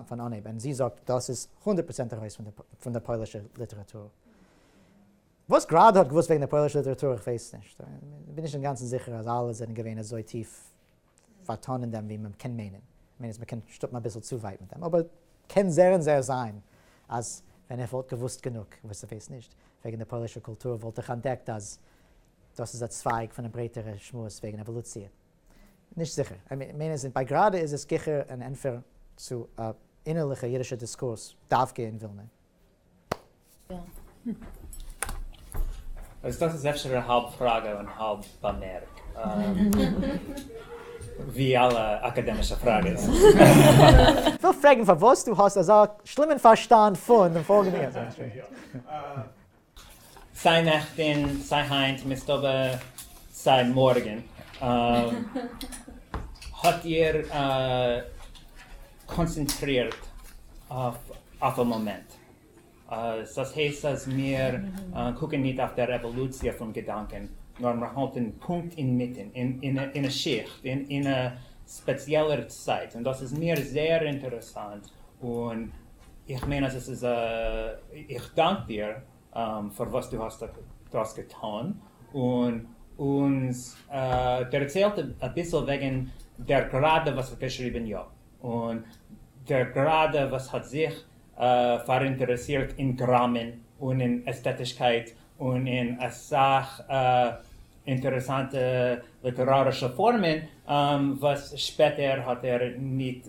פון אנהייב און זי זאגט דאס איז הונדערט פראצענט ארויס פון די פוילישע ליטעראטור. וואס גראדע האט געוואוסט וועגן די פוילישע ליטעראטור איך ווייס נישט, איך בין נישט אינגאנצן זיכער אז אלע זענען געווען אזוי טיף פארטאן אין דעם ווי מען קען מיינען, איך מיין אז מען קען שטופן אביסל צו ווייט מיט דעם, אבער קען זער און זער זיין אז ווען איך וואלט געוואוסט גענוג, וואס איך ווייס נישט, וועגן די פוילישע קולטור וואלט איך אנטדעקט אז דאס איז א צווייג פון א ברייטערע שמועס וועגן עוואלוציע. נישט זיכער, איך מיין אז ביי גראדע איז עס גיכער אן ענטפער צו א אינערליכע אידישע דיסקורס דווקא אין ווילנע, אז דאס איז אפשר א האלב פראגע און האלב באמערק, ווי אלע אקאדעמישע פראגעס. כ'וויל פרעגן פארוואס דו האסט אזא שלימען פארשטאנד פון דעם פאלגענדן געזעץ. סיי נעכטין סיי היינט מסתבר סיי מארגען האט איר קאנצענטרירט אויף א מאמענט סאיז הייסט אז מיר קוקען ניט אויף דער עוואלוציע פון געדאנקען נאר מיר האלטען פונקט אינמיטען אין א שיכט אין א ספעציעלער צייט און דאס איז מיר זעהר אינטערעסאנט און איך מיין אז עס איז א, איך דאנק דיר פאר וואס דו האסט דארט געטאן, און אונז דערציילט אביסל וועגן דער גראדע וואס האט געשריבן יא, און דער גראדע וואס האט זיך פאראינטערעסירט אין גראמען און אין עסטעטישקייט און אין אסאך אינטערעסאנטע ליטערארישע פארמען וואס שפעטער האט ער ניט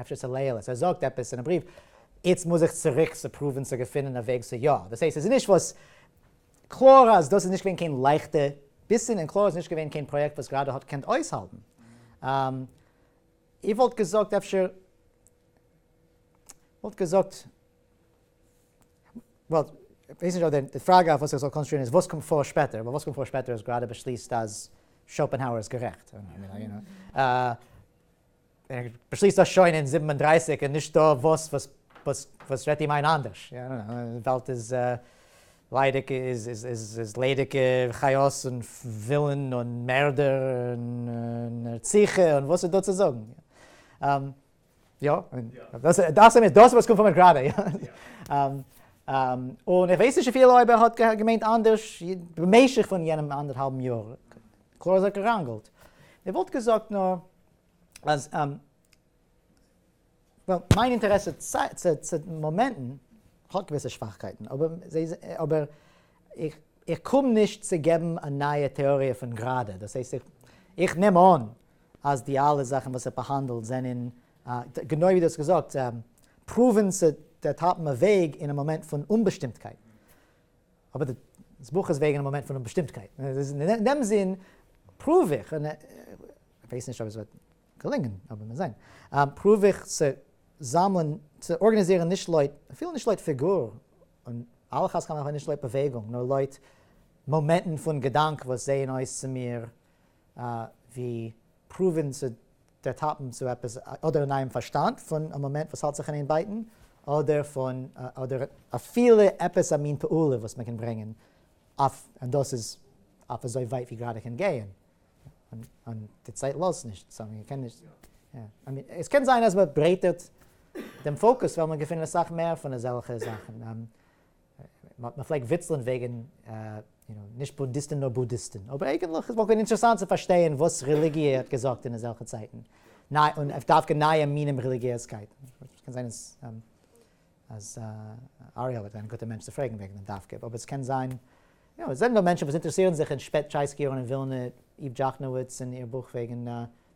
אפשר צו לעיל עס ער זאגט עפעס אינעם בריוו איצט מוז איך צוריק צו פרואווען צו געפינען א וועג צו יא דאס הייסט עס איז נישט וואס קלאר אז דאס איז נישט געווען קיין לייכטע ביסן און קלאר איז נישט געווען קיין פראיעקט וואס גראדע האט געקענט אויסהאלטן איר וואלט געזאגט אפשר וואלט געזאגט וואלט ווייס נישט אויב די פראגע אויף וואס איך זאל קאנצעטרירן איז וואס קומט פאר שפעטער ווייל וואס קומט פאר שפעטער איז גראדע באשליסט אז שאופענהאוער איז גערעכט ער באשליסט דאס שוין אין זיבן און דרײַסיק און נישט דא וואס וואס רעדט אים איין אנדערש? די וועלט איז ליידיג איז ליידיגע חיות און ווילן און מערדער און רציחה און וואס איז דא צו זאגן? יא, דאס איז דאס וואס קומט פון מיר גראדע. און איך ווייס נישט אפילו אויב ער האט געמיינט אנדערש במשך פון יענעם אנדערהאלבן יאר. קלאר זיך געראנגלט. איך וואלט געזאגט נאר אז מיין אינטערעסע צו מאמענטן האט געוויסע שוואכקייטן, אבער איך קום נישט צו געבן א נייע טעאריע פון גראדע, דאס הייסט איך נעם אן אז די אלע זאכן וואס ער באהאנדלט זענען, גענוי ווי דו האסט געזאגט, פרואוון צו דעטאפן א וועג אין א מאמענט פון אומבאשטימטקייט. אבער דאס בוך איז וועגן א מאמענט פון אומבאשטימטקייט, אין דעם זין פרואוו איך, כ'ווייס נישט אויב עס וועט געלונגען, אבער מיר זעען. פרואוו איך צו זאמלען, צו ארגאניזירן נישט לויט, אפילו נישט לויט פיגור, און על אחת כמה וכמה נישט לויט באוועגונג, נאר לויט מאמענטן פון געדאנק וואס זעען אויס צו מיר ווי פרואוון צו דערטאפן צו עפעס אדער אין אייעם פארשטאנד פון א מאמענט וואס האלט זיך אין איין בייטן, אדער פון, אדער אפילו עפעס א מין פעולה וואס מען קען ברענגען אויף, און דאס איז אויף אזוי ווייט ווי גראדע קען גייען. און די צייט לאזט נישט סאו מען קען נישט, עס קען זיין אז מען ברייטערט דעם פאוקוס וועלן מיר געפינען אסאך מער פון אזעלכע זאכן, מען פלעגט וויצלען וועגן נישט בונדיסטן נאר בודהיסטן, אבער אייגענטליך עס וואלט געווען אינטערעסאנט צו פארשטייען וואס רעליגיע האט געזאגט אין אזעלכע צייטן, און דווקא נייע מינים רעליגיעזקייט, קען זיין עס. אז אריאל וועט זיין א גוטע מענטש צו פרעגן וועגן דעם דווקא, אבער עס קען זיין, יא, עס זענען דא מענטשן וואס אינטערעסירן זיך אין שפעט-טשייסקי יארן אין ווילנע, איוו דזשאכנאוויץ און איר בוך וועגן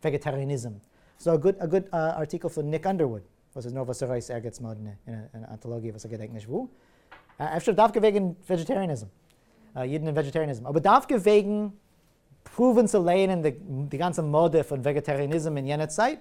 וועגעטאריעניזם, ס'איז דא א גוט ארטיקל פון ניק אנדערוואוד וואס איז נארוואס ארויס ערגעץ מאדנע אין אן אנטאלאגיע וואס איך געדענק נישט וואו, אפשר דווקא וועגן וועגעטאריעניזם, אידן און וועגעטאריעניזם, אבער דווקא וועגן פרואוון צו לייענען די גאנצע מאדע פון וועגעטאריעניזם אין יענע צייט,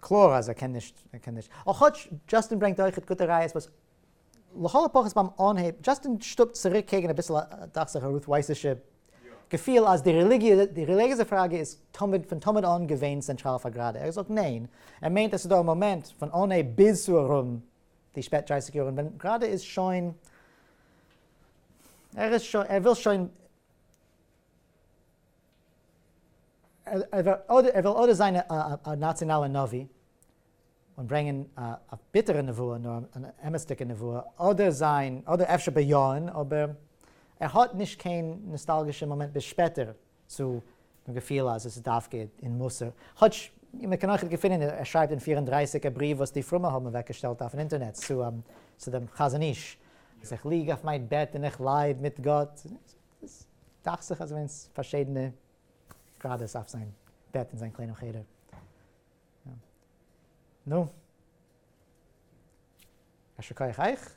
קלאר אז ער קען נישט, ער קען נישט, און כאטש דזשאסטין ברענגט אויכעט גוטע ראיות וואס לכל הפחות ביים אנהייב, דזשאסטין שטופט צוריק קעגן אביסל דאכט זיך א רות ווייס'ישע געפיל אז די רעליגיע, די רעליגיעזע פראגע איז תמיד, פון תמיד אן געווען צענטראל פאר גראדע, ער זאגט ניין, ער מיינט עס איז דא א מאמענט פון אנהייב ביז צו ארום די שפעט דרייסיג יארן ווען גראדע איז שוין, ער איז שוין, ער וויל שוין. ער וויל אדער זיין א נאציאנאלע נביא און ברענגען א ביטערע נבואה נאר אן אמת'דיגע נבואה, אדער זיין, אדער אפשר בייאען, אבער ער האט נישט קיין נאסטאלגישע מאמענט ביז שפעטער צו געפיל אז עס איז דווקא אין מוסר, כאטש מען קען אויכעט געפינען ער שרייבט אין פֿיר און דרײַסיק א בריוו וואס די פרומע האבן אוועק געשטעלט אויפן אינטערנעט צו דעם חזון איש, אז איך ליג אויף מיין בעט און איך לייד מיט גאט. איז דאכט זיך אז ס'ווען פארשידענע גראדעס אויף זיין בעט אין זיין קליינעם חדר. נו. יישר כח אייך.